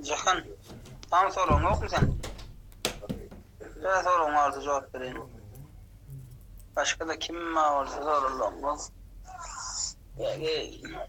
Jahan, tam soruň ýokmy sen? Sen soruň ardy jogap bereýin. Başga da kim ma bolsa sorulmaz. Ýa-da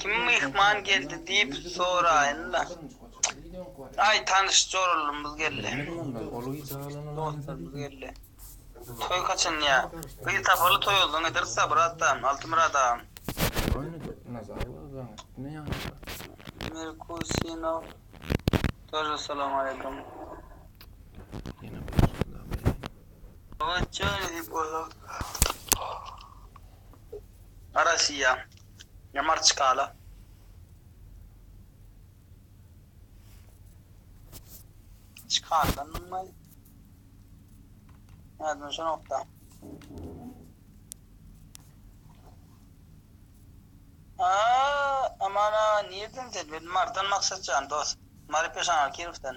Kim myhman geldi diýip soraýyn-da. Aý, tanyş Jorallymyz geldi. Dostlarymyz geldi. Toý haçan ýa? Gyz tapaly toý ozdan ederis Sabyr atam, Altymyrat agam. Merkusinow Daže Salam aleýkum. Daže diýip oýlap. Rossiýa, Marçkala. Çykarylanymy? Ýadyma düşenok-da. A, aman-a, nirden sen? Men Marydan Maksat jan, dost. Mary Peşanal Kirowdan.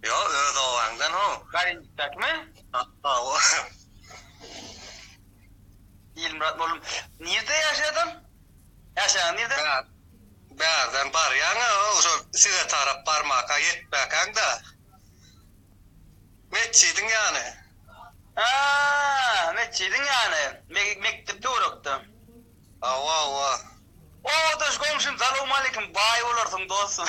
Ýok, öz obaňdan how. Garynjykdakymy? Hawa. Ilmyrat mugallym, nirde ýaşaýadyň? Ýaşaýaň nirde? Bärden barýaň-a, şol size tarap barmaka ýetmäkäň-de. Metjidiň ýany. A, metjidiň ýany. Mekdep töwerekde. Hawa, hawa. O, daş goňşym, salowmaleýkim, baý bolarsyň, dostum.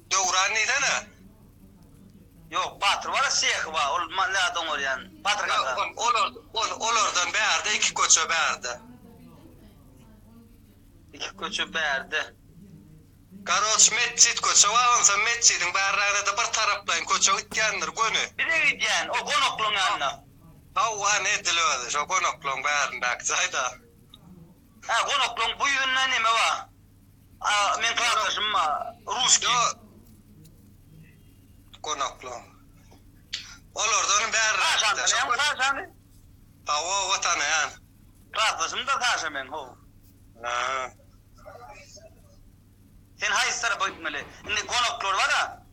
Döwran diýsene. Ýok Batyr bar sehi bar ol zat oňarýan Batyr kaka. Ýok olardan bärde iki köçe bärde. Iki köçe bärde. Garoç metjit köçe bar onsoň metjidiň bärrägidede bir taraplaýyn köçe gitýändir göni. Bize gidýän o gonaklaň ýanyna. Hawa ine edil özi şo gonaklaň bärindäki jaýda. Hä gonaklaň bu ýüzünde neme bar. Meň klasdaşym bar, ruski. Gonaklyň. Olardan bäri rahat. Şoň Saşany? Hawa, hawa tanaýan. Klasdaşym-da Saşa meň, haw. Sen haýsy tarapa gitmeli? Indi gonaklar bar-a.